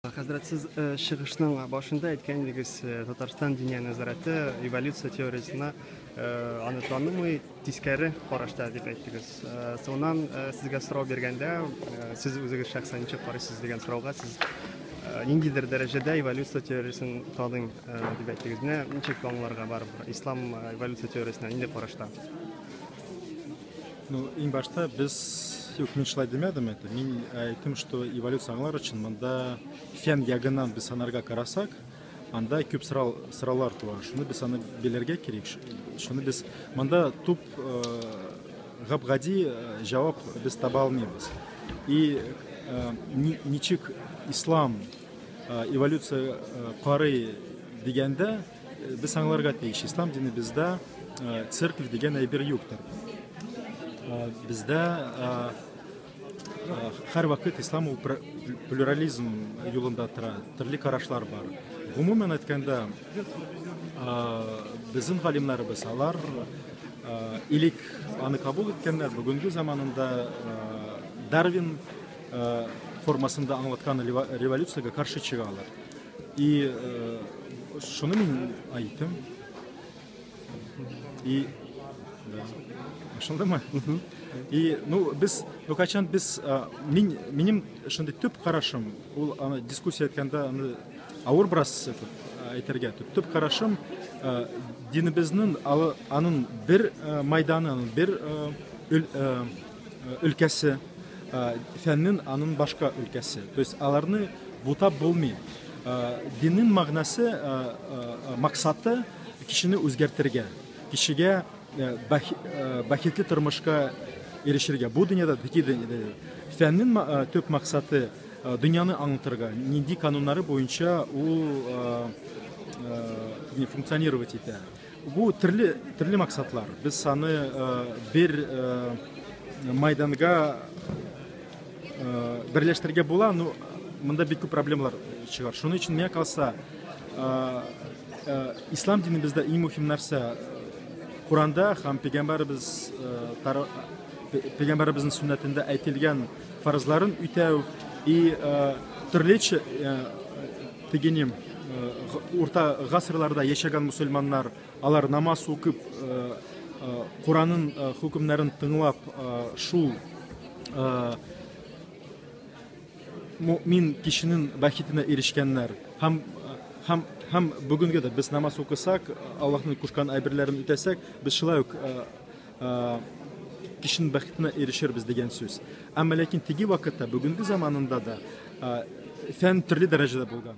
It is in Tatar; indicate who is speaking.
Speaker 1: Хәзрәт, сез э, чыгышның башында әйткән идегез, э, Татарстан диния нәзарәте эволюция теориясенә э, аны танымый, тискәре карашта дип әйттегез. Соңыннан сезгә сорау биргәндә, сез үзегез шәхсән ничек карыйсыз дигән сорауга сез ниндидер дәрәҗәдә эволюция теориясен таныйм дип әйттегез. Менә ничек аңларга бар ислам эволюция теориясенә нинди карашта?
Speaker 2: Ну, иң башта без юк, мин шулай димәдем это. Мин әйттем, что эволюция аңлар өчен монда фен ягыннан без санарга карасак, анда күп сорау сораулар туа. Шуны без аны белергә кирәк. Шуны без монда туп э, гап-гади э, җавап без таба алмыйбыз. И э, ничек ислам эволюция карый дигәндә Без аңларга тиеш, ислам динебездә э, церковь дигән әйбер юктыр. Э, бездә э, һәр вакыт ислам ул плюрализм юлында тора, төрле карашлар бар. Гомумән әйткәндә, безнең галимнәребез алар илик аны кабул иткәннәр, бүгенге заманында Дарвин формасында аңлаткан революциягә каршы чыгалар. И шуны мин айттым. И ошондаймы? И ну без ну качан без мин минем шундый төп карашым, ул аны дискуссия иткәндә аны авыр бераз этот әйтергә төп төп карашым динебезнең аның бер майданы, аның бер өлкәсе фәннен анын башка өлкәсе то есть аларны бутап булмый диннин мәгънәсе максаты кешене үзгәртергә кешегә бәхетле тормышка ирешергә бу дөньяда ди фәннин төп максаты дөньяны аңлатырга нинди кануннары буенча ул функционировать итә Бу төрле төрле максатлар. Без саны бер майданга берләштерергә була, но монда бик күп проблемалар чыгар. Шуның өчен миңа калса, ислам динебездә иң мөһим нәрсә Куранда һәм пәйгамбәрбез пәйгамбәрбезнең сөннәтендә әйтелгән фарызларын үтәү и төрлечә Тегенем, урта гасырларда яшәгән мусульманнар, алар намаз укып, Куранын хөкемнәрен тыңлап, шул мин кешенең бәхетенә ирешкәннәр. Һәм һәм һәм бүгенге дә без намаз укысак, Аллаһның кушкан әйберләрен үтәсәк, без шулай ук кешенең бәхетенә ирешербез дигән сүз. Әмма ләкин теге вакытта, бүгенге заманында да фән төрле дәрәҗәдә булган.